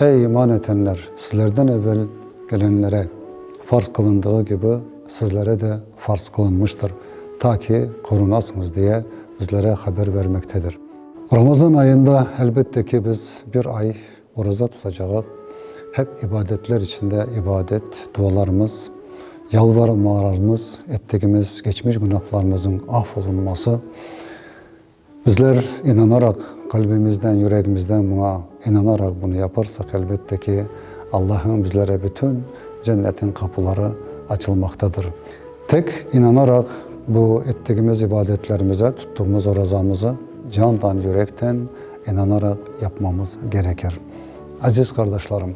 Ey, iman etenler! Sizlerden evel kelenlere farz qılındığı kibi, sizlere de farz qılınmıştır, ta ki, qorunasıñız diye bizlere haber bermektedir. Ramazan ayında, elbette ki, biz bir ay oraza tutacağıq, hep ibadetler içinde ibadet, dualarımız, yalvarmalarımız, ettigimiz, geçmiş günahlarımızıñ af olunması, Bizler inanaraq, qalbimizden, yüregimizden buña inanaraq bunı yaparsaq, elbette ki, Allah'ın bizlere bütün Cennetniñ qapuları açılmaqtadır. Tek inanaraq bu ettigimiz ibadetlerimize, tuttığımız orazamızı candan, yürekten inanaraq yapmamız gerekir. Aziz qardaşlarım,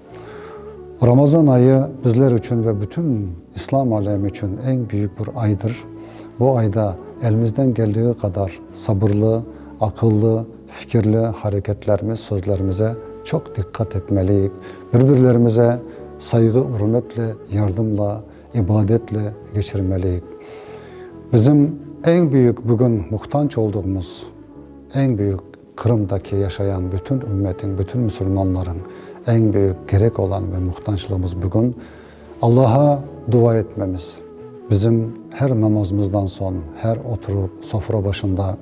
Ramazan ayı bizler içün ve bütün İslam alemi içün eñ büyük bir aydır. Bu ayda elimizden keldiği qadar sabırlı, aqıllı, fikirli hareketlerimiz, sözlerimize çoq diqqat etmeliyik, bir-birlerimize sayğı-ürmetle, yardımla, ibadetle geçirmeliyik. Bizim eñ büyük bugün muhtanç olduğumuz, eñ büyük. Qırımdaki yaşayan bütün ümmetiñ, bütün musulmanlarıñ eñ büyük kerek olan ve muhtanclığımız bugün, Allağa dua etmemiz. Bizim her namazımızdan soñ, her oturup sofra başında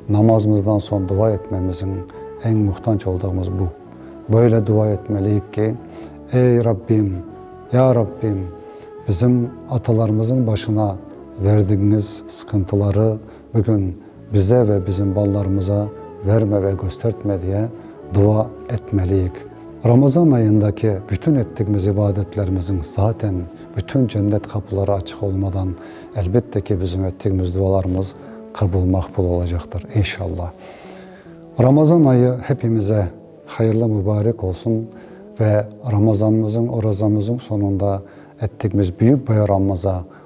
namazımızdan soñ dua etmemiziñ eñ muhtanc oldığımız bu. Böyle dua etmeliyik ki, Ey Rabbim, ya Rabbim, bizim atalarımızıñ başına verdigiñiz sıqıntıları Bugün bize ve bizim balalarımıza verme ve köstertme diye dua etmeliyik. Ramazan ayındaki bütün ettigimiz ibadetlerimizin zaten bütün cennet qapıları açıq olmadan elbette ki bizim ettigimiz dualarımız qabul maqbul olacaqtır inşallah. Ramazan ayı hepimize hayırlı mübarek olsun ve Ramazanımızın, orazamızın sonunda ettigimiz büyük bayramımıza